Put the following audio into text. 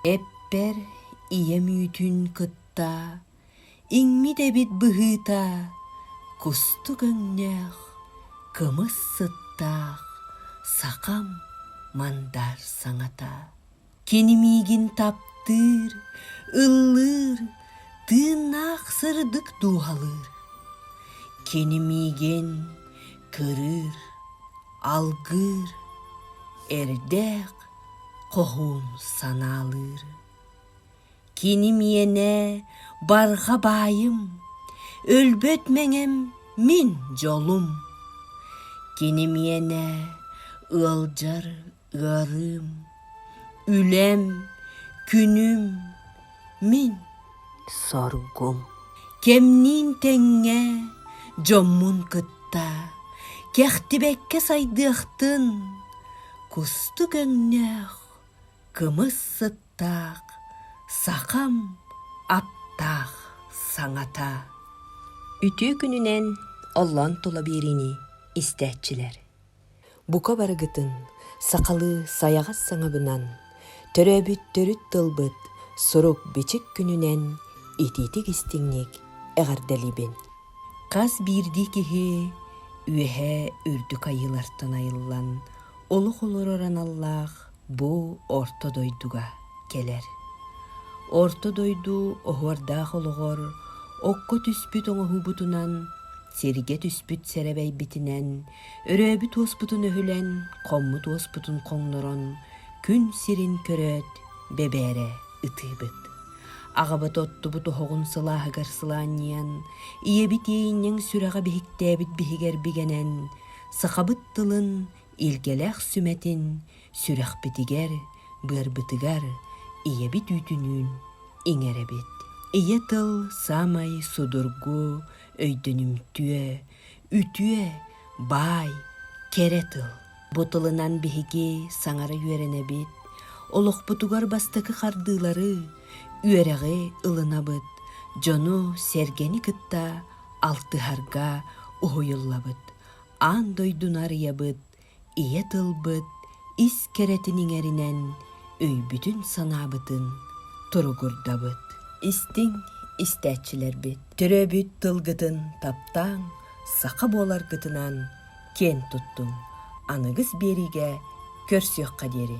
Эппэр ийэ мүйтүн кытта иҥмит эбит быһыыта кустук өҥнөөх кымыс сыттаах сахам мандар саҥата Кини миигин таптыыр, ыллыыр, тыыннаах сырдык дууһалыыр. Кини миигин кырыыр, алгыыр, эрдээх хоһуун санаалыыр. Кини миэнэ барҕа баайым, өлбөт мэҥэм мин дьолум. Кини миэнэ ыалдьар Ыарыым, үлэм, күнүм, мин соргум. Кэмниин тэҥҥэ дьоммун кытта кэхтибэккэ сайдыахтын кустук өҥнөөх кымыс сыттаах сахам аптаах саҥата. Үтүө күнүнэн оллон тула биэриини истээччилэр. Бука барыгытын, сахалыы сайаҕас саҥабынан, төрөөбүт төрүт тылбыт сурук-бичик күнүнэн итиитик-истиҥник эҕэрдэлиибин! Хас биирдии киһи үөһэ үрдүк айыылартан айыллан олох олорор аналлаах бу орто дойдуга кэлэр. Орто дойду оһуордаах олоҕор окко түспүт оҥоһугутунан, сиргэ түспүт сэрэбэйбитинэн Өрөөбүт-уоспутун өһүлэн, хоммут-уоспутун хоҥнорон, күн сирин көрөөт, бэбээрэ ытыыбыт. Аҕабыт оттубут оһоҕун сылааһыгар сылаанньыйан, ийэбит иэйинньэҥ сүрэҕэ биһиктээбит биһигэр бигэнэн, сахабыт тылын, илгэлээх сүмэтин сүрэхпитигэр, быарбытыгар ийэбит үүтүнүүн иҥэрэбит. Ийэ тыл саамай судургу, өйдөнүмтүө, Үтүө, баай, кэрэ тыл. Бу тылынан биһиги саҥара үөрэнэбит, олохпутугар бастакы хардыылары, үөрэҕи ылынабыт, дьону, сэргэни кытта алтыһарга уһуйуллабыт, аан дойдуну арыйабыт, ийэ тылбыт ис кэрэтин иҥэринэн өйбүтүн-санаабытын туругурдабыт. Истиҥ истээччилэрбит, төрөөбүт тылгытын таптааҥ, саха буоларгытынан киэн туттуҥ, аныгыс биэриигэ көрсүөххэ диэри.